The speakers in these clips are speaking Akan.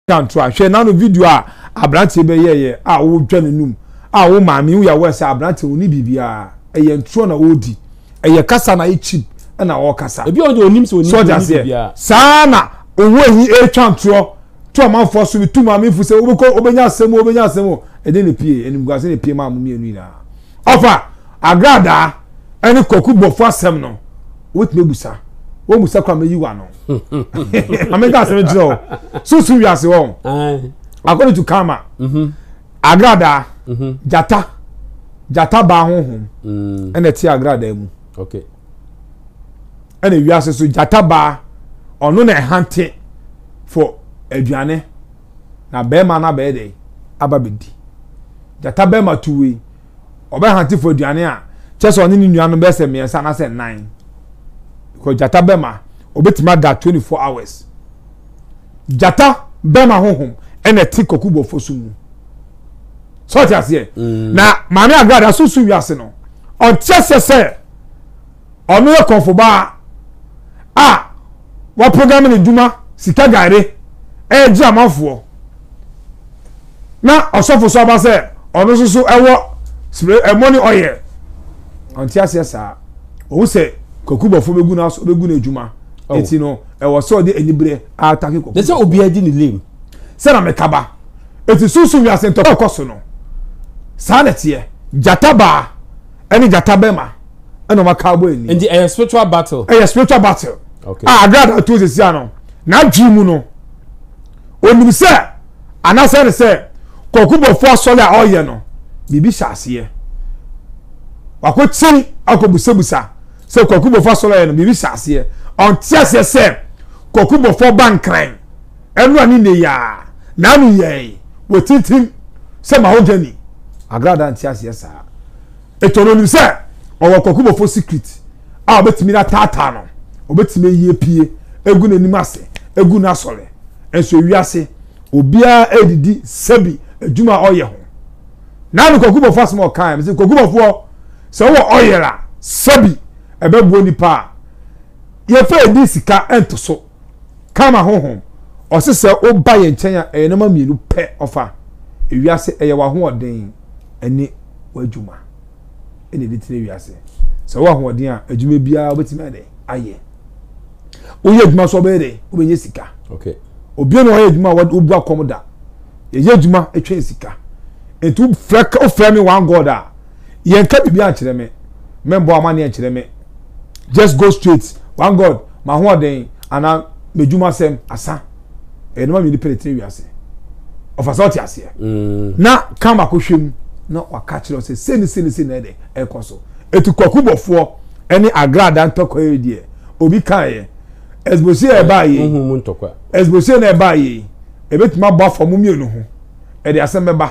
Twa ntoa. Hwɛ n'ano video a aberanteɛ bɛ yɛɛyɛ a ɔɔdwa ne num a wo maame wo yawɛ sɛ aberanteɛ ɔnni biribiaa ɛyɛ ntorɔ na ɔɔdi ɛyɛ kasa na ayɛ cheap ɛna ɔɔkasa Ebi wɔ hɔ deɛ ɔnim sɛ ɔnni so ɔte ɔnni aseɛ biribiara. saa na ɔwɔ yi ɛɛtwa ntorɔ to amanfoɔ so bi to maame fo sɛ wobɛkɔ wobɛnya asɛm o wobɛnya asɛm o ɛdɛn na ɛpie animguase na ɛpie maa mo mmienu nyinaa Ɔfa agradaa ɛne kwaku bɔfo asɛm no wobɛtumi abusa wɔn busa kora mɛyi wa no ameka asɛm kyerɛ o susu wiase hɔ according to karma mhm. agradaa mhm. jata jata baa honhom mm. ɛna ɛte agradaa mu ɛna wiase so jata baa ɔno na ɛhante for aduane na bɛɛma no abɛyɛ dɛn? Aba bɛdi. Gyata bɛɛma tu wei, ɔbɛhante fo aduane a, kyɛ sɛ ɔne ne nua no bɛyɛ sɛ mmiɛnsa anaasɛ nnan. Because gyata bɛɛma, ɔbɛtumi ada 24 hours. Gyata bɛɛma honhom ɛna ɛte kɔku bɔfo so mu. Sɛ ɔte aseɛ? Mm. Na maame agrada so so wiase no, ɔnte aseɛ sɛ Ɔno yɛ kɔmfobaa a wɔapagame ne dwuma sika gayere ɛɛgye amanfoɔ na ɔsɔfo so aba sɛ ɔno nso so ɛwɔ ɛmɔne ɔyɛ ɔnte aseɛ saa ɔhu sɛ kakubɔfoɔ bɛgu no aso bɛgu no adwuma ɛti no ɛwɔ sɛ ɔde aniberɛ atake kakubɔfoɔ ne sɛ obiara di ne lem sɛ na mekaba ɛti sunsun wiase ntɔkɔ ɛkɔ so no saa na ɛteɛ gyata baa ɛne gyata bɛma ɛna ɔma kaa bɔ ani. nti ɛyɛ spiritual battle. ɛyɛ spiritual battle. okay a agra na to sisi ano n'adwi mu no onim sɛ anasɛ ne sɛ kɔkubɔfo asɔre a ɔyɛ no biribi hyɛ aseɛ wakɔ kyi akɔ busabusa sɛ kɔkubɔfo asɔre a ɔyɛ no biribi hyɛ aseɛ ɔnte aseɛ sɛ kɔkubɔfo ba nkran. Ɛnora ne nnɛ yi ara, n'ano yɛe wɔ tintim sɛ mahogany, agrada nteaseɛ saa. Eto no nim sɛ ɔwɔ kɔkobɔfo secret a obetumi ataataa no, obetumi ayi apue agu n'anim ase agu no asɔre. Nso ewiase obiara redidi sɛbi adwuma a ɔyɛ ho. Na me kɔkobɔfo asɛm a ɔkae, mise, Kɔkobɔfoɔ, sɛ wowɔ oil a, sɛbi ɛbɛboa nnipa a yɛfa edi sika ntoso. Karma honhom, ɔse sɛ woba yɛn nkyɛn a, ɛyɛ nneɛma mmienu pɛ ɔfa. Ewiase, ɛyɛ w'ahoɔden ne w'adwuma ɛna ɛde tena ewiase. Sɛ wowɔ ahoɔden a, adwuma biara wobɛtumi ayɛ ayɛ. Woyɛ adwuma nso wobɛyɛ dɛ, wobɛnya sika. Okay. Obiara na ɔyɛ adwuma a wobu akɔm da. Yɛyɛ adwuma ɛtwɛn sika. Nti wofrɛ, wofrɛ me one God a, yɛnka biribi ankyerɛ me, mɛmbɔ amanneɛ nkyerɛ me, just go straight, one God, m'ahoɔden anaa m'adwumasɛm, asa. Ɛyɛ nneɛma mmienu pɛ na ɛtena wiase. Ɔfa sɛ ɔte aseɛ. Mm. Na ka mako hwɛ mu na waka kyerɛ sɛ sei ne sei ne sei na ɛdɛ ɛkɔ so. Ɛti kwaku bɔfoɔ ɛne agrada ntɔkwa yi deɛ obi kaeɛ. Ɛsbosei a ɛbaa yei. Wohu mu ntɔkwa. Ɛsbosei na ɛbaa yei. Ɛbɛtumi abɔ afa mu mmienu ho. Ɛde asɛm bɛba.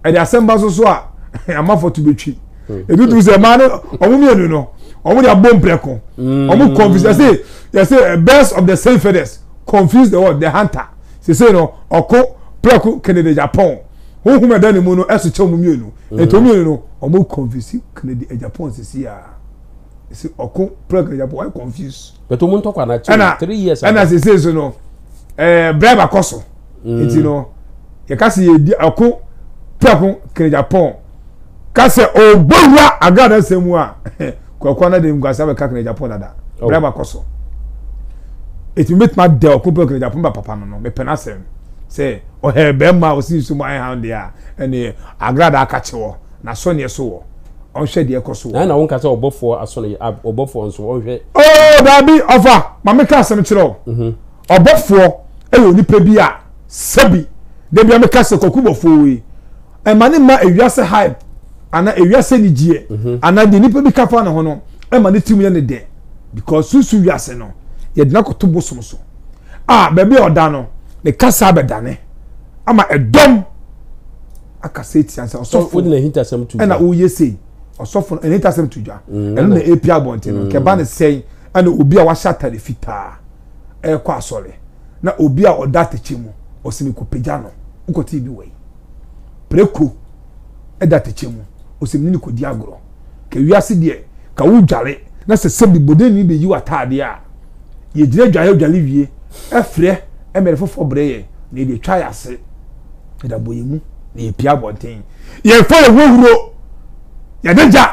ɛde asɛm ba so so a amafo to betwi hmm. ebi tu sɛ maa no ɔmo mmienu no ɔmo de abɔ mprɛko hmm. ɔmo confuse yɛsɛ yɛsɛ eh, birds of the same feathers confuse the world the hunter sese no ɔko prɛko kennedy japan huhum ɛda ne mu no ɛso kyɛ ɔmo mmienu hmm. nti ɔmo mmienu no ɔmo confuse kennedy japan sisi a. ɛsɛ ɔko plug na yɛbɔ ɔyɛ confuse. bɛtɛ ɔmo ntɔ kwan na ɛna three years ago ɛna sese so no ɛɛ eh, bribe akɔ so mm. nti no yɛka sɛ yɛdi ɔko plug kene japan ka sɛ ɔbɔ wura agrada sɛ mu a kɔkɔɔ na de nkwasa bɛka kene japan dada oh. bribe akɔ so ɛtumi bɛtumi adɛ ɔko plug kene japan ba papa no no mepɛ no asɛm sɛ ɔhɛ bɛrima a ɔsi nsu mu ayɛ ha deɛ a ɛne agrada aka kye wɔ N'asɔneɛ so wɔ, Ɔnhwɛ deɛ ɛkɔ so wɔ. Na ɛna wonka sɛ ɔbɔfoɔ aso no yɛ, ab, ɔbɔfoɔ nso ɔnhwɛ. Oo, daabi, ɔfa, ma meka asɛm kyerɛ wo. Ɔbɔfoɔ yɛ onipa bi a, sɛbi, da biara meka sɛ Kwaku bɔfoɔ wei, ɛma ne mma ewiase hype, anaa ewiase anigyeɛ, anaa deɛ nipa bi ka fa ne ho no, ɛma ne tirim yɛ no dɛ. Because sunsum wiase no, yɛde no akɔto bosom so. A, baabi a ɔda no, ne kasa bɛdane ama ɛdɔm. akasa etia sɛ ɔsɔfo wode n'ahintasɛm to dwa ɛna woyɛ sei ɔsɔfo no n'ahintasɛm to dwa mm, ɛno na epi abɔnten no mm. nkɛba ne sɛn ɛna obi a wahyɛ atare fitaa ɛrekɔ asɔre na obi a ɔda atɛkyɛ mu ɔsi mi kɔ pagya no wokɔte bi wɔ yi preko ɛda atɛkyɛ mu ɔsi mi ne kɔ di agorɔ. Ka wiase deɛ ka wo dware na sɛ sɛbi bɔdɛni bɛ yi w'ataadeɛ a yɛ gyina dwaeɛ odware wie ɛfrɛ ɛmɛrɛ foforɔ brɛ yɛn na yɛde atwa yɛ ase yɛde abɔ yɛn mu na yɛ pia abɔnten yɛn fa yɛ ho huro yɛde gya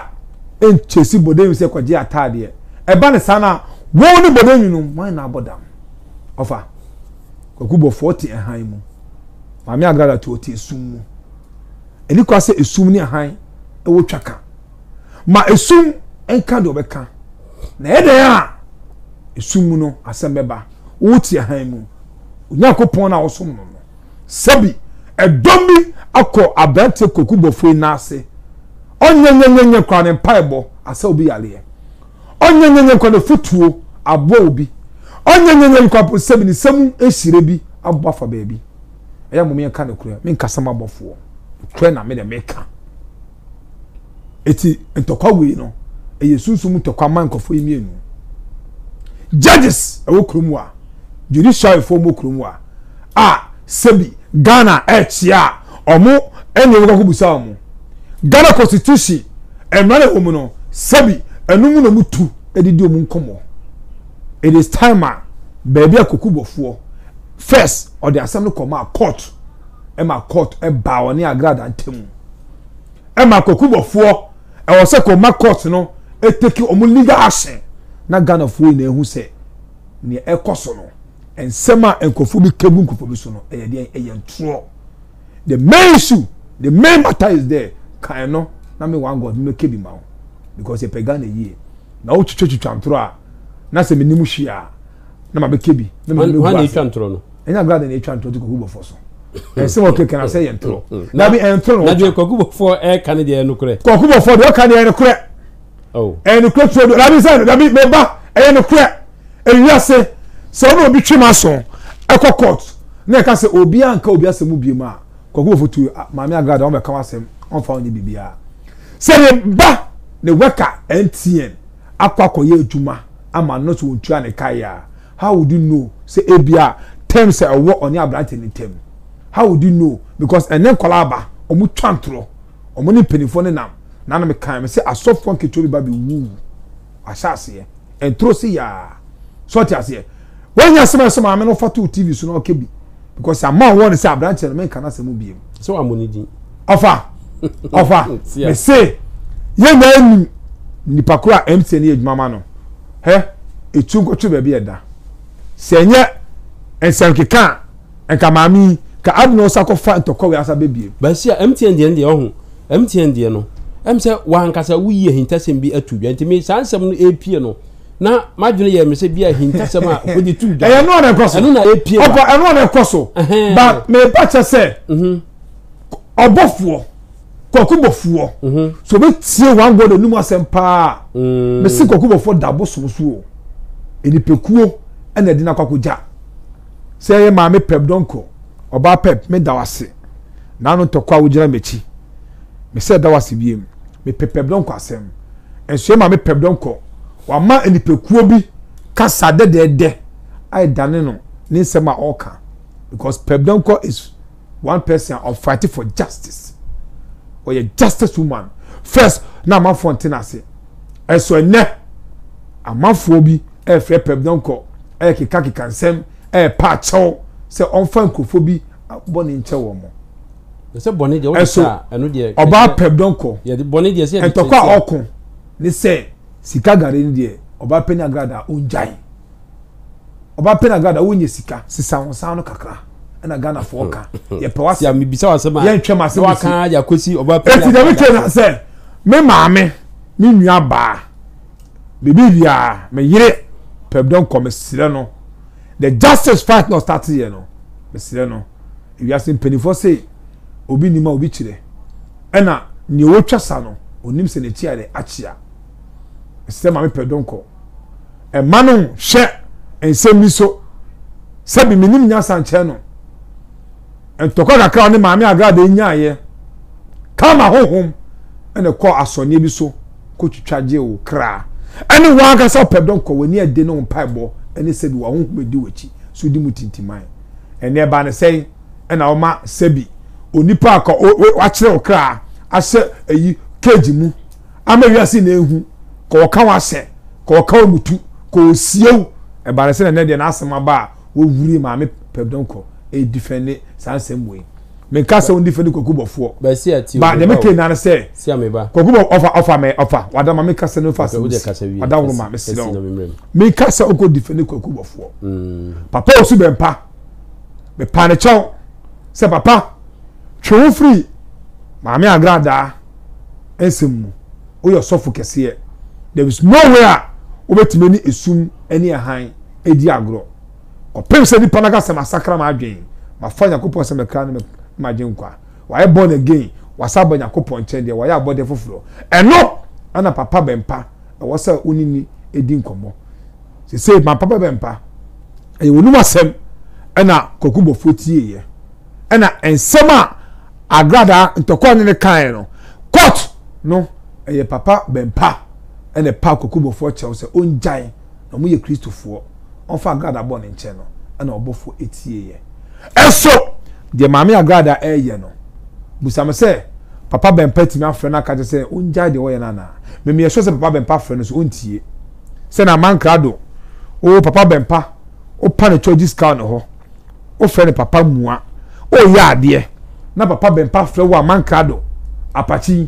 ɛnkyɛsi bɔdɛni sɛ kɔgye ataadeɛ ɛba ne saa na wɔn ne bɔdɛni no wɔn na abɔ dam ɔfa kwaku bɔfoɔ te ɛhan mu maame agrada to ɔte esum mu Ɛne kwa sɛ esum ne hann wɔ twa ka. Ma esum nka deɛ ɔbɛka, na ɛyɛ dɛn a esum mu no asɛm bɛba. Wotia hann mu. Onyankopɔn no a wosom no no, sɛbi ɛdɔm bi akɔ aberanteɛ kwaku bɔfoɔ yi nan ase. Ɔnyɛ nyɛnyɛnyɛ koraa ne mpaebɔ asa obi yareɛ. Ɔnyɛ nyɛnyɛnyɛ koraa ne fotuo aboa obi. Ɔnyɛ nyɛnyɛnyɛ koraa mpo sɛbi ne nsa mu nhyira bi abɔ afa baabi. ɛyɛ mom yɛnka nokorɛ menkasa ma abɔfoɔ nokorɛ na mede meka ɛti ntɔkwa wei no ɛyɛ sunsum ntɔkwa ma nkɔfoɔ yi mmienu judges ɛwɔ kurom a judiciary foɔ mu kurom a a sɛbi Ghana ɛkyea a ɔmo ɛne ɔmo kakɔ busa ɔmo Ghana constitution ɛmra na ɛwɔ mu no sɛbi ɛno mu na ɔmo tu ɛdidi ɔmo nkɔmɔ it is time a baabi a kuku bɔfoɔ First ɔde asɛm no kɔmaa court ɛma court ɛbaa ɔne Agrada ntamu ɛma Kwakubɔfoɔ ɛwɔ sɛ kɔ ma court no ɛteki wɔn legal action na Ghanafoɔ nyinaa ehu sɛ nea ɛkɔ so no nsɛm a nkurɔfoɔ bi kɛgu nkurɔfoɔ bi so no ɛyɛ deɛ ɛyɛ ntorɔ the main issue the main matter is there kan no na me one God mmɛkɛ bi ma wo because yɛpɛ Ghana yie na wotwitwa twitwa ntorɔ a na sɛ menim hwee a na ma bɛ kɛ bi na mede bɛgu ase. Hwan na etwa ntorɔ no? Ɛnyɛ agrada na etwa ntorɔ de kɔgu bɔfoɔ so. Ɛsɛ wɔ kɛkɛ na sɛ yɛ ntorɔ. Mm, mm. Dabi ɛntorɔ na ɔtwa. Na deɛ kɔgu bɔfoɔ ɛka ne deɛ ɛnokorɛ. Kɔgu bɔfoɔ deɛ ɔka deɛ ɛnokorɛ. Oh. Ɛnokorɛ tuo do. Dabi sɛ dabi mɛ ba ɛyɛ nokorɛ. Ewi ase sɛ ɔno obi twem aso ɛkɔ court na ɛka sɛ obi anka obi asɛm mu biem a kɔgu bɔfoɔ tuo ah, maame agrada wɔn bɛka wɔn asɛm wɔn fa wɔn nyɛ biribiara. Sɛ ne ba ne wɛka ɛntien. akɔ akɔyɛ adwuma ama no sɛ ɔntua ne ka yɛ a, how would you know sɛ ebia terms a ɛwɔ ɔne aberante no ntam? How would you know? Because ɛnnɛ nkwadaa aba, wɔtwa ntorɔ, wɔne mpanimfoɔ no nam. Na na mekae me sɛ asɔfoɔ nketewa bi ba bɛwuu ahyɛaseɛ, ntoro se yaa. So ɔte aseɛ? Wanya asɛm a ɛsɛ maame no fa to TV so na ɔka bi because ama ɔwɔ ne sɛ aberanteɛ no menka n'asɛm biem. Sɛ wamɔ ne din. Ɔfa ɔfa mese yɛn nyinaa nim nipa koro a MTN yɛ adwuma ma no hɛ etu nkɔtwe baabi a ɛda sɛ ɛnyɛ nsɛnkeka a nka maame yi ka adi na ɔsa kɔfa ntɔkwa wei asa bɛbiem. Bɛsi a MTN deɛ no deɛ ɔho MTN deɛ no ɛm sɛ wankasa woyi ahintasɛm bi ato dwa nti me saa nsɛm no ɛpie no na madwene yɛ me sɛ bi ahintasɛm a wɔde tu dwa ɛyɛ no a na ɛkɔ so ɛno na ɛpie ba ɔkɔ ɛno a na ɛkɔ so ba meba kyɛ sɛ mhm. ɔbɔfoɔ kɔkobɔfoɔ mhm. so bɛtie wɔn agɔ n'anum asɛm paa mm. mesi kɔkobɔfoɔ da abosom so o nnipakuo ɛna ɛde no akɔ akɔgya sɛ ɛyɛ maame pɛp dɔnkɔ ɔbaa pɛp meda wase naano ntɔkwa a wogyina m'akyi Mesɛ da wo ase biem. Mepɛ pɛbdɔn kɔ asɛm. Nso yɛ ma me pɛbdɔn kɔ. Wama nnipakuo bi kasa dɛdɛɛdɛ a ɛdane no ne nsɛm a ɔka. Because pɛbdɔn kɔ is one person a ɔfight for justice. Ɔyɛ justice woman. First na amanfoɔ nte no ase. Nso ɛnɛ amanfoɔ bi ɛrefrɛ pɛbdɔn kɔ ɛrekeka keka nsɛm ɛrepa akyɛw sɛ ɔmfa nkurɔfoɔ bi bɔne nkyɛ wɔn. ɛsɛ bɔne deɛ wode sɛ a ɛno deɛ ɔbaa pɛ dɔnkɔ yɛde bɔne deɛ sɛ yɛde ɛntɔkɔ a ɔko ne sɛ sika gare no deɛ ɔbaa pɛ ne agrada a ɔngyae ɔbaa pɛ ne agrada a wonyɛ sika sisa ho saa no kakra ɛna ghanafoɔ ka yɛpɛ wase yɛmebisa wasɛm a yɛntwɛm asɛm waka de akɔsi ɔbaa pɛ ne agrada ɛti dɛm na sɛ me maame me nua baa biribi biara me yere pɛ dɔnkɔ mesrɛ no the justice fight na ɔstate yɛ no mesrɛ no Wiase mpanimfoɔ se obi nim a obi kyerɛ, ɛna nea ɔtwa sa no ɔnim sɛ n'akyi ayɛ dɛ akyea. Mesrɛ Maame Pɛdonko, mma no nhwɛ nsɛm yi so sɛbi menim nyansa nkyɛn no. Ntɔkwa kakra a ɔne Maame Agrada nyaeɛ kaa m'ahonhom na ɛkɔɔ asɔneɛ bi so kɔtwitwa gyee wo kra. Ɛne wo ankasa Pɛdonko, w'ani ade ne wo mpaebɔ ne sɛbi w'ahonhom adi w'akyi so di mu tintiman. ɛnne ɛba no sɛn ɛna ɔma sɛbi onipa a wakyerɛ ɔkra ahyɛ ɛyi cage mu ama wiase na ehu ka ɔka wahyɛ ka ɔka ɔmutu ka ɔsiew ɛba no sɛ na deɛ n'asɛm aba a wɔwuri maame pɛbdɔn kɔ ɛdifɛnde saa nsɛm wei menka sɛ ɔndifɛnde kwaku bɔfoɔ ba deɛ mekɛ nane sɛ kwaku bɔ ɔfa ɔfa mɛ ɔfa wadama meka sɛ no fa sɛ ɔda woroma mesrɛ wo Me ka sɛ ɔkɔ defend kwaku bɔfoɔ. Mm. Papa osu bɛ mpa. Me pa ne kyɛw sɛ papa twe ho firi maame agradaa nsɛm mu. Oyɛ sɔfo kɛseɛ. There is no way a wobɛtumi ne esum ne ɛhan edi agorɔ. Kɔpem sɛ nipa no aka sɛ masakra m'adwen, mafa Nyankopɔn sɛ mɛkra ne m'agyen kwa. Wayɛ born again, wasan aba Nyankopɔn nkyɛn deɛ, wayɛ abɔdeɛ foforɔ. Ɛno na papa bɛmpa ɛwɔ sɛ wo ne ni ɛdi nkɔmmɔ. Sesei ma papa bɛmpa, ɛyɛ w'anum asɛm ɛna Kwaku Bɔfoɔ tieeɛ. Ɛna nsɛm a Agradaa Ntɔkwa ne no kaeɛ no, court no ɛyɛ papa bɛmpa ɛna ɛpaa Kwaku Bɔfoɔ kyɛw sɛ ɔngyae. na wɔyɛ Kristofoɔ, wɔmfa Agrada bɔ no nkyɛn no, ɛna ɔbɔfoɔ tieeɛ. Nso, deɛ Maame Agrada reyɛ no, bisa no sɛ, Papa Bɛmpa tumi afrɛ no aka kyerɛ sɛ ɔngyae deɛ ɔyɛ no anaa? Memeyɛ sure sɛ Papa Bɛmpa frɛ no nso ɔntie. Sɛ na Aman Krado, oo Papa Bɛmpa, wopa no Chɔgyi Scout no hɔ. wofrɛ no papa mua ɔreyɛ adeɛ na papa bɛmpa frɛ wo a mankrado apakyi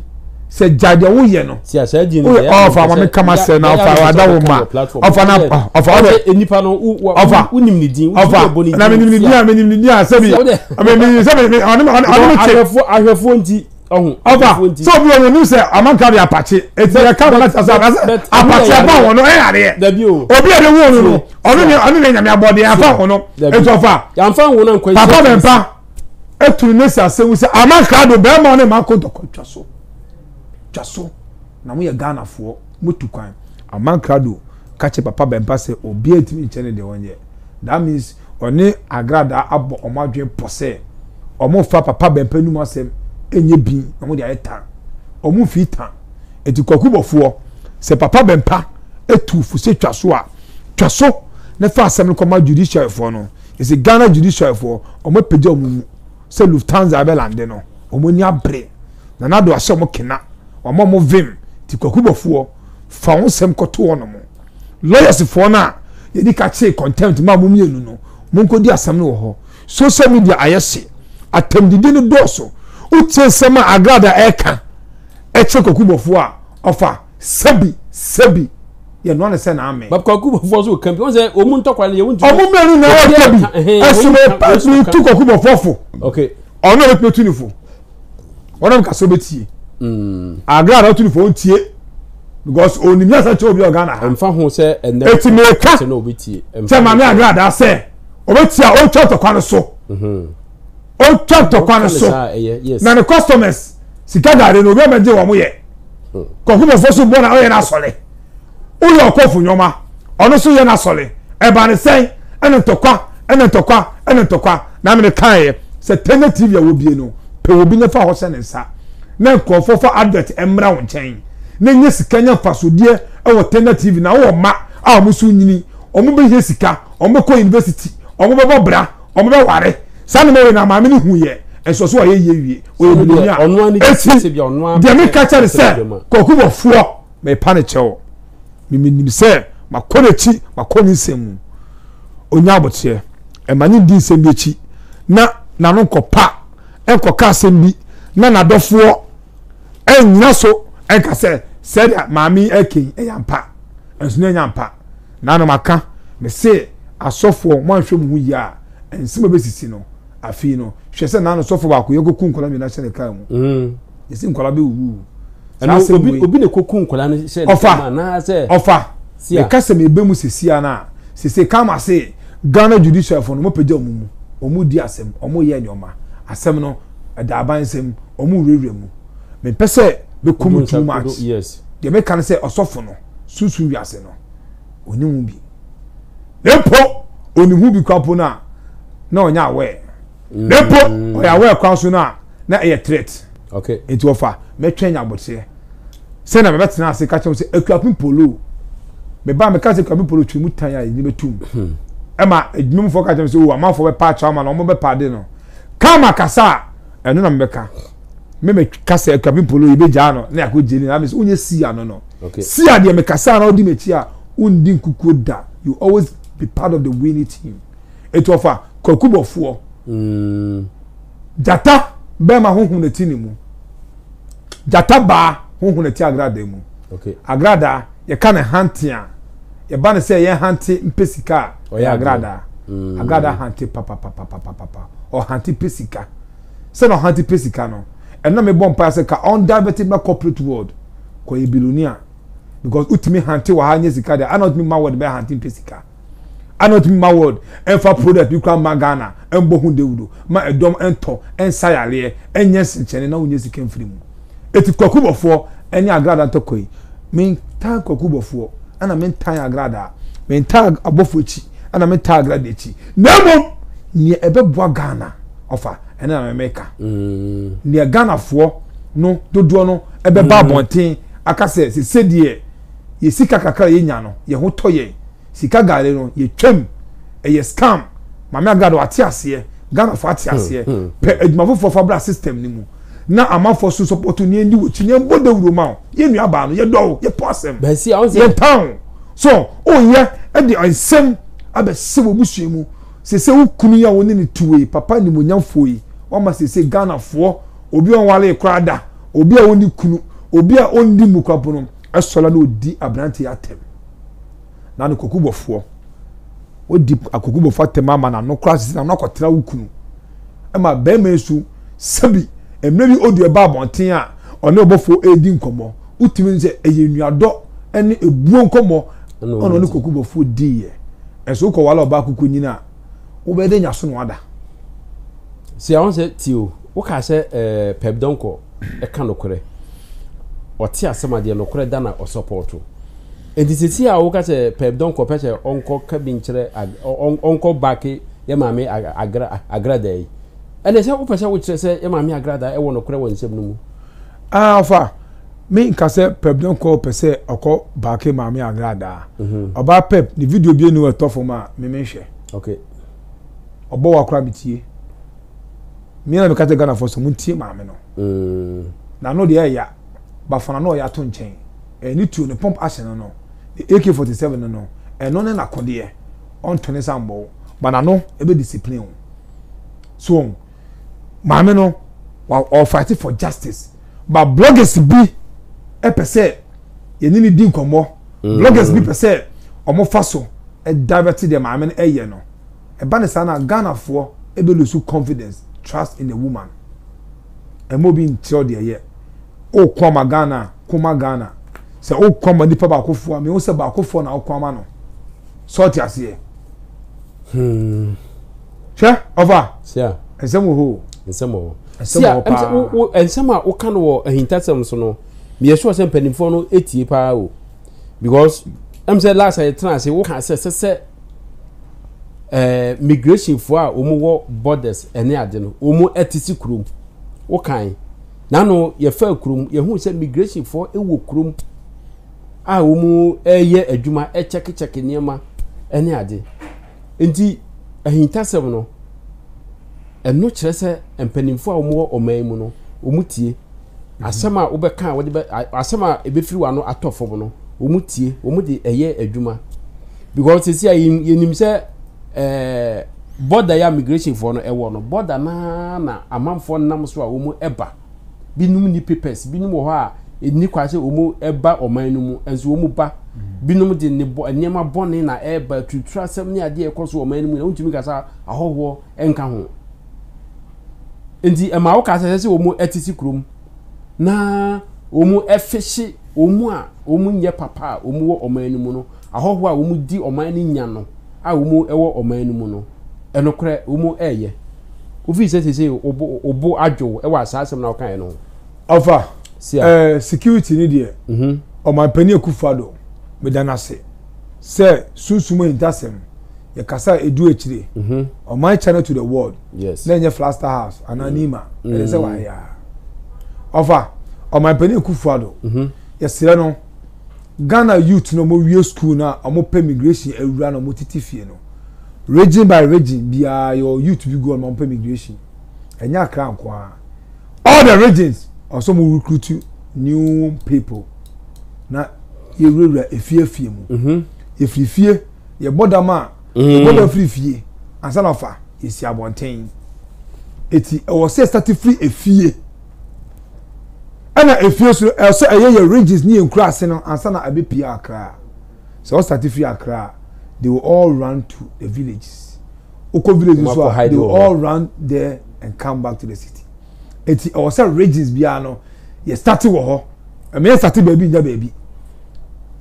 sɛ gya deɛ woyɛ no ɔfa ama me kama sɛ na ɔfa wada wo ma ɔfa na ɔfa ɔdɛ nipa no ɔfa wonim ne din ɔfa na menim ne din a menim ne din a sɛbi sɛbi ɔne me kyɛ ahwɛfoɔ nti ɔhu abufuo nti. sọ obi ọmọ nim sẹ amanka de apakye eti yẹ ka wọn asa asa apakye afa wọn no ẹyà adeɛ dabi o obi a de wọn no no ɔno ne ɔno ne nyame abɔ de afa wọn no etu afa yanfa wọn na nkwa papa bɛ mpa etu ne si ase wusa amanka do bɛrima ne ma ko dɔkɔ twa so twa so na mo yɛ ghana foɔ mo tu kwan amanka do kakye papa bɛ mpa sɛ obi a etimi nkyɛn ne deɛ wɔn yɛ. That means ɔne agradaa abɔ wɔn adwene pɔ sɛ wɔmfa papa bɛmpa no mu asɛm nyɛ bin na wɔde ayɛ tan. Wɔn mfii tan. Eti kwaku bɔfoɔ sɛ papa bɛmpa etu fo sɛ twa so a twa so na fa asɛm no kɔma judiciary foɔ no. Yɛsɛ Ghana judiciary foɔ wɔn apagya wɔn mu sɛ Lufthansa ɛbɛ lande no wɔn ani abere na nado ahyɛ wɔn kena wɔn a wɔn vim ti kwaku bɔfoɔ. fa wo nsɛm kɔto wɔnom lɔyɛsfoɔ no a yɛdi ka kyee contempt ma mo mmienu no monkɔdi asɛm no wɔ hɔ social media ayɛ hye atɛmdidi no dɔɔso wotie nsɛm a agrada ɛka ɛkyerɛ kɔkubɔfoɔ a ɔfa sɛbi sɛbi yɛnoa no sɛ na ame kɔkubɔfoɔ so ka bi wɔn sɛ wɔn ntɔkwa no yɛ wɔn ti ɔmo mmienu na ɛka bi ɛsɛ mo pɛsɛ tu kɔkubɔfoɔ fo ɔno a wɔtumi tu ne fo wɔn nam kasa obetie mm. agra na ɔtu ne fo ntie because onim yɛ sɛ kyɛ obi ɔga na ha nfa ho sɛ ɛnɛ eti mi ka kyɛ maame agra da sɛ obetie a ɔtwa ntɔkwa no so mhm. ɔtwa ntɔkwa no so na ne customers sika gaade na obi ɔmɛgye wɔn yɛ hmm. kɔnkɔn fo so bɔ na ɔyɛ n'asɔre. woyɛ ɔkɔfo nneɛma ɔno so yɛ no asɔre ɛba ne sɛn ɛne ntɔkwa ɛne ntɔkwa ɛne ntɔkwa na mene kaeɛ sɛ tɛnɛ tv a wɔbie no pɛ obi ne fa hɔ hyɛ ne nsa na nkurɔfoɔ fa advert mmra wo nkyɛn na nyɛ sika nya mfasodeɛ ɛwɔ tɛnɛ tv na wowɔ mma a wɔn so nyini wɔn bɛhia sika wɔn bɛkɔ university wɔn bɛbɔ bra wɔn bɛware saa ne mɛwei na maame ne hu yɛ ɛsɔ so ayɛ yie wie ɔyɛ biloni a ɛsi deɛ meka kyɛ ne sɛ kɔkubɔfoɔ Merepa no kyɛw. Minim sɛ makɔ n'akyi, makɔ ne nsɛm mu. Onya aboteɛ. Ɛma no ndi nsɛm bi akyi na n'ano nkɔpa, ɛnkɔka asɛm bi na n'adɔfoɔ ɛnnyina so ɛnka sɛ sɛdeɛ maame yi ɛreka yi ɛyɛ ampa. Ɛnso na ɛnyɛ ampa. Na na maka, mese asɔfoɔ moanhwɛ mo ho yie a, nsɛm a ɛbɛsisi no afei no, hwɛ sɛ na no sɔfoɔ baakoyɛ kɔku nkwadaa mmienu ahyɛ ne kaa mu. yɛsi nkwadaa bɛ wuwu. ɛnna obi obi na koko nkwadaa no hyɛ ne kama anaasɛ. ɔfa sia ɛka sɛ mebe mu sɛ sia na sese kama se ghana judicial fo no mo pagya wɔn mu wɔn di asɛm wɔn yɛ nneɛma asɛm no ɛda aban nsɛm wɔn wurawura mu mepɛ sɛ bekum too much deɛ meka no sɛ ɔsɔfo no susu wiase no oni ho bi na mpo oni ho bi kwapo no a na ɔnyɛ aware na mpo ɔyɛ aware kwan so no a na ɛyɛ threat okay nti wɔfa mɛtwɛn nya abotire sɛ na mɛbɛtena ase ka kyerɛ sɛ akuapem polo me ba mɛka sɛ akuapem polo twere mu tan a yɛnyini bɛtum hmm. ɛma adwuma mu fɔ ka kyerɛ sɛ o oh, amanfoɔ bɛpa akyɛ ama na wɔn bɛpa ade no kama kasa a ɛno na mɛbɛka me me kasa akuapem polo yɛbɛgyaa no na yɛakɔ gyeni na mɛ sɛ wonyɛ si ano no si a deɛ mekasa na ɔdi m'akyi a wondi nkukuo da you always be part of the winning team ɛti ɔfa kwaku bɔfoɔ mm. Gyata bɛrima ho hunu ti ne mu. Gyata baa ho hunu ti agradaa mu. Okay. Agradaa, yɛka ne hante a, yɛba ne sɛ yɛn hante mpɛ sika a, ɔyɛ agradaa. Mm. Agradaa hante papapapapapa. Ɔhante pɛ sika. Sɛ na ɔhante pɛ sika no, ɛna mebɔ mpae sɛ ka ɔndivɛte ba corporate world kɔyɛ bilonia. Because wotumi hante wɔ ha nyɛ sika deɛ, ana wotumi ma wɔde bɛyɛ hante mpɛ sika. ana otumi ma world ɛmfa product bi kora mma ghana ɛmbɔ ho dawuro ma ɛdɔm ɛntɔ ɛnsa yareɛ ɛnyɛ nsenkyɛne na wonyɛ sika mfiri mu ɛti kwaku bɔfoɔ ɛne agrada ntɔkwa yi mentaa kwaku bɔfoɔ ɛna mentaa agrada mentaa abɔfoɔ akyi ɛna mentaa agrada akyi na mmom neɛ ɛbɛboa ghana ɔfa ɛne na memeka mm. neɛ ghanafoɔ no dodoɔ no ɛbɛba mm. abɔnten aka sɛ sɛ sɛdeɛ yɛ sika kakra a yɛnya no yɛ ho tɔ yɛn, sika gare no yɛ twam, ɛyɛ scam, Maame Agado ate aseɛ, Ghanafoɔ ate hmm, aseɛ, hmm, hmm. pɛ adwuma foforɔ fa bra system no mu na amanfoɔ so sɔpɔto nea ɛndi wɔkyi nea ɛbɔ dawuro ma wo yɛ nua baa no yɛdɔ wo yɛpɔ asɛm yɛntan wo so woyɛ de nsɛm abɛsɛ wɔ busua mu sese wo kunu yi a wɔne ne tuwe papa nimonyamfoɔ yi wɔma sese ghanafoɔ obi a ɔnwaree koraa da, obi a ɔnni kunu, obi a ɔndi mmukwapo no sɔre na ɔdi aberanteɛ atɛm. Na no kokubɔfoɔ, wadi akokubɔfoɔ atɛm ama no ano koraa sisi na no akɔtena wo kunu. Ɛma bɛrima yi nso sɛbi mmerɛ bi ɔdu ɛba abɔnten a ɔne ɔbɔfoɔ ɛredi nkɔmmɔ, wotumi sɛ ɛyɛ nnuadɔ ɛne ɛbuo nkɔmmɔ ɛna ɔne kokubɔfoɔ diiɛ. Ɛnso wokɔ wale ɔbaa kukunyin a, wobɛyɛ dɛ nyaso na wada si a wɔn sɛ ti o wokaa sɛ ɛɛ pɛp dɔnkɔ ɛka nokorɛ ɔte asɛm adeɛ nokorɛ da na ɔsɔpɔɔto nti sisi a woka sɛ pɛp dɔnkɔ pɛ sɛ ɔnkɔ ka bi nkyerɛ ɔnkɔ baake yɛ maame agrada yi ɛnna sɛ wopɛ sɛ wokyerɛ sɛ yɛ maame agrada ɛwɔ nokorɛ wɔ nsɛm no mu Ah, ɔfa, me nka sɛ Pep don kɔ pɛ sɛ ɔkɔ baake maame agradaa. Mhm. Ɔbaa Pep, ne video bie ni wɔ ɛtɔ fam a, me me nhwɛ. Okay. Ɔbɔ wa kora me tie. Me na me ka kyɛ Ghana fɔ sɛ mo ntie maame no. Mm. Na ano deɛ ɛya, bafo na ano ɔya to nkyɛn. Ɛyɛ ne tuo, ne pump action no no, ne AK-47 no no, ɛno ne nakodeɛ. Ɔnto ne nsa mbɔ wo, but n'ano ɛbɛ discipline wo. So wɔn. maame no wa ɔfight for justice ba bloggers bi ɛpɛ sɛ yɛne ne di nkɔmmɔ mm. bloggers bi pɛ sɛ wɔn fa so ɛdirect deɛ maame no ɛyɛ no ɛba ne saa na ghanafoɔ ɛbɛ lose confidence trust in a woman ɛmɛ obi nkyerɛw deɛ yɛ ɔkɔ ama ghana kɔma ghana sɛ ɔkɔ ama nipa baakofoɔ a mehu sɛ baakofoɔ na ɔkɔ ama no sɛ ɔte aseɛ. Hmm. Hwɛ, ɔfa. Sia. Nsɛm wɔ hɔ o. Nsɛm wɔ hɔ. Nsɛm wɔ hɔ paa. Sia, wo nsɛm a woka no wɔ ahintasɛm so no, meyɛ sure sɛ mpanimfoɔ no etie paa o. Because, ɛm sɛ last a yɛtena ase woka sɛ sɛ sɛ eh, migrationfoɔ a wɔn wɔ borders ɛne ade no, wɔn ɛte si kurom. Wokan. N'ano yɛfa kurom, yɛhu sɛ migrationfoɔ wɔ kurom a wɔn ɛyɛ adwuma, ɛkyɛkekyɛke nneɛma ɛne ade. Nti ahintasɛm no, ɛno kyerɛ sɛ mpanimfoɔ a wɔwɔ ɔman mu no, wɔtie. Mhm. Asɛm a wobɛka a wɔde bɛ asɛm a ɛbɛfiri w'ano atɔ fam no, wɔtie, wɔde ɛyɛ adwuma. Because sisi a yɛnim sɛ ɛɛ bɔda yɛ a migrationfoɔ no ɛwɔ no, bɔda naa na amanfoɔ nam so a wɔn ɛba. Binom nni papers, binom wɔ hɔ a ɛnni kwa sɛ wɔn ɛba ɔman no mu, ɛnso wɔn ba. Binom de nneɛma bɔne na ɛreba, aturutura asɛm ne adeɛ ɛkɔ so ɔman no mu na wontumi ka sɛ ahɔhoɔ ɛnka ho. Nti ɛma woka sɛ sɛ wɔn ɛtete kurom na wɔn ɛfehye wɔn a wɔn nyɛ papa a wɔn wɔ ɔman no mu no Ahɔho a wɔn di ɔman no nya no a wɔn wɔ ɔman no mu no, ɛnokorɛ wɔn reyɛ. Wofiri sɛ sesei wo bo adwo wo wɔ asaa asɛm no a wokaeɛ no ho. Ɔfa, eh, security no deɛ, mhm. Ɔmanpanin Akufo Addo, meda no ase sɛ sunsum ahintasɛm, yɛ kasa a ɛdu akyire. Mhm. Ɔman channel to the world, yes. na ɛnyɛ Flaster House anaa mm. Nima, ɛyɛ sɛ mm. wayɛ a. Ɔfa, Ɔmanpanin Akufo Addo, mhm. yɛserɛ no, Ghana youth na ɔmo wie school na ɔmo pɛ migration awura na ɔmo titi fie no region by region biaa yɛwɔ youth bi gu hɔ na ɔmo pɛ migration ɛnyɛ akra nkoaa all the regions ɔsɛ ɔmo recruit new people na yɛ wurawura efie afie mu mhm. yɛ firi fie yɛ bɔ dam a mhm. yɛ bɔ dam firi fie ansa na fa yɛ si abɔnten eti ɛwɔ sɛ start firi efie. ɛna efie so ɛsɛ ɛyɛ yɛ regions ne yɛ nkura ase no ansa na ɛbɛ pie akra sɛ ɔsate fi akra they will all run to the villages okɔ village so a they will all run there and come back to the city eti ɛwɔ sɛ regions biara no yɛ sate wɔ hɔ ɛmɛ yɛ sate baabi nya baabi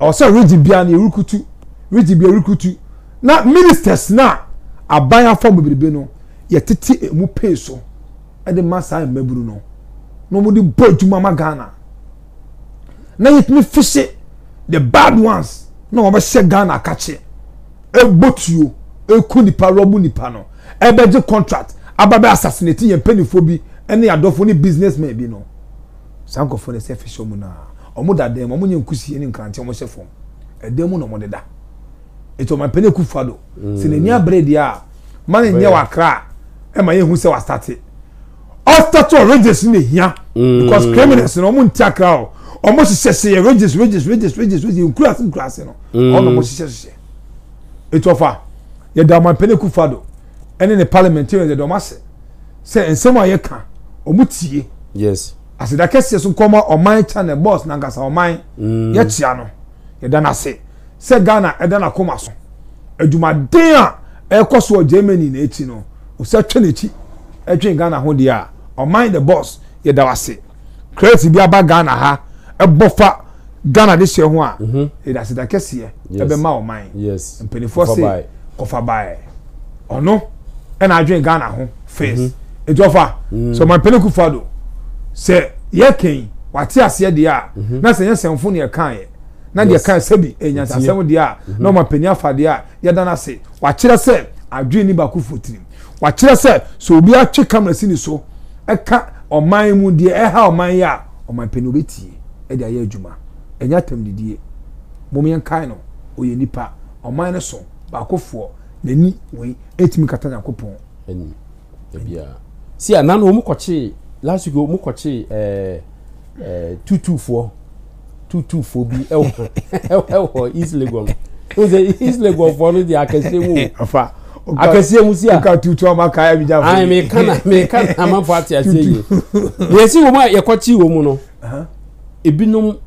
ɛwɔ sɛ region biara no yɛ rekutu region biara rekutu na ministers na aban afɔ bebrebe no yɛ tete emu pay so. de ma saa mmabunu no na wɔde bɔ adwuma ma ghana na yɛtumi fihye the bad ones na wɔbɛhyɛ ghana akakye ɛbɔ tuo ɛku nipa rɔbo nipa no ɛbɛgye contract aba bɛ assassinate yɛn mpanimfoɔ bi ne adɔfoɔ ne businessmen bi no saa nkurɔfoɔ no sɛ fihye wɔn naa wɔn da dan mu wɔn nyɛ nkusie ne nkrante wɔn hyɛ fam ɛdan mu na wɔn deda ɛti wɔn mpanyin kufa do. sɛ n'ani abere deɛ a ma no nyɛ wakra a ɛma yɛhu sɛ wastate ɔstate wɔ rages no na ɛhia mm. because criminals no ɔmo nti akra o ɔmo hyehyɛ hyehyɛ rages rages rages rages rages nkurase nkurase no mm. ɔno ɔmo hyehyɛ hyehyɛ etu ɔfa yɛda ɔmo apɛnɛ kufa do ɛne ne parliamentarians yɛda ɔmo ase sɛ nsɛm a yɛka ɔmo tie yes aseda kɛseɛ so nkɔma ɔman channel boss nankasa ɔman mm. yɛkyia no Yɛda no ase sɛ Ghana da n'akoma so. Adwumaden a ɛrekɔ so wɔ Germany no akyi no, ɔsan twa n'akyi dwen Ghana ho deɛ a, Ɔman the Boss, yɛda wo ase. Crate bi aba Ghana ha, ɛbɔ fa Ghana de hyɛ ho a, mhm. yɛde aseda kɛseɛ ɛbɛma ɔman. Mpanimfoɔ se, kɔfa baɛ. ɔno ɛna adwene ghana ho first mhm. etu ɔfa mhm. so ɔmampanin kufa do sɛ yɛ kɛn wate aseɛ deɛ a mhm. na sɛ yɛ sɛnfo ne yɛ kan yɛ na deɛ kan sɛbi ɛnyansasɛm deɛ a na ɔmampanin afa deɛ a yɛda no ase wakyerɛ sɛ adwene ne baako fo tirim wakyerɛ sɛ sɛ obi atwe kamera si ne so ɛka ɔman mu deɛ ɛha ɔman yɛ a ɔmampanin obetie ɛde ayɛ adwuma ɛnyɛ atam didie mo yɛn kan no oyɛ nipa ɔman no so. Baakofoɔ, n'ani wei ɛtumi kata Nyankopɔn. Ani, ɛbia. Si a, nanu wɔn kɔkyee, last week wɔn kɔkyee ɛɛ ɛɛ tutufoɔ, tutufoɔ bi ɛwɔ ɛwɔ East Legon. N sɛ East Legon foɔ no deɛ akɛseɛ mu. Afa. Akɛseɛ mu si a. Nka tutu ama kaa ɛbi gya fo. Ayi mi ka na mi ka na amanfo ate aseɛ yie. Yɛsi wɔn a yɛkɔkyee wɔn no, ebinom.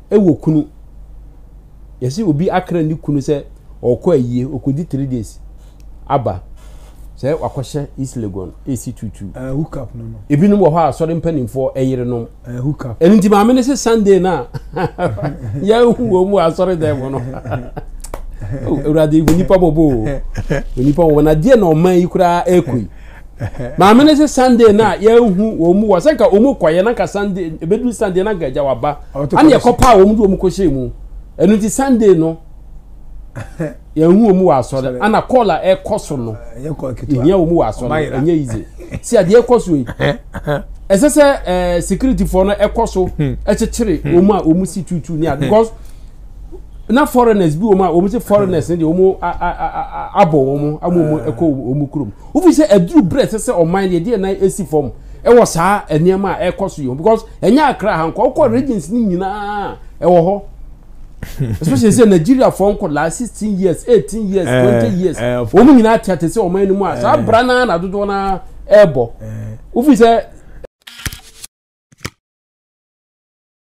wɔ kunu. Yɛse obi akra ne kunu sɛ ɔkɔ ayie, ɔkɔdi three days aba sɛ wakɔhyɛ East Legon ɛsi tuutuu. Uh, hook up no no. Ebinom wɔ hɔ a asɔre mpanimfoɔ ɛyerenom. Uh, hook up. Ɛno nti maame no se Sunday no a yɛahu wɔ mu asɔre dɛn mu no. Awurade hu nipa mɔbɔ o. Nipa mɔbɔ na deɛ na ɔman yi koraa ɛkɔ yi. Maame no se Sunday no a yɛahu wɔn mu wɔ sɛ nka wɔn mu kɔyɛ na nka Sunday ebeduru Sunday na nka agya waba ana yɛkɔ paa wɔn de wɔn kɔhyɛ mu ɛno ti Sunday no yɛahu wɔn mu wɔ asɔre ana kɔɔl a ɛkɔ so no yɛhia wɔn mu wɔ asɔre ɛnyɛ yize si adeɛ ɛkɔ so yi ɛsɛ sɛ ɛɛ sikiritifoɔ no ɛkɔ so ɛkyekyere wɔn a wɔn si tuutu ne a because. na foreigners bi wɔn a wɔn sɛ foreigners ne deɛ wɔn abɔ wɔn ama wɔn ɛkɔ wɔn kurom wofi sɛ aduru brɛ sɛ sɛ ɔman deɛ deɛ nan esi fam ɛwɔ saa nneɛma a ɛkɔ so yi because ɛnyɛ akra ha nkɔ ɔkɔ regions ne nyinaa ɛwɔ hɔ especially sɛ nigeria fɔ nkɔ last sixteen years eighteen years eh, twenty years eh, wɔn nyinaa te ate sɛ ɔman no mu a saa eh. bra naa na dodoɔ naa ɛɛbɔ wofi sɛ.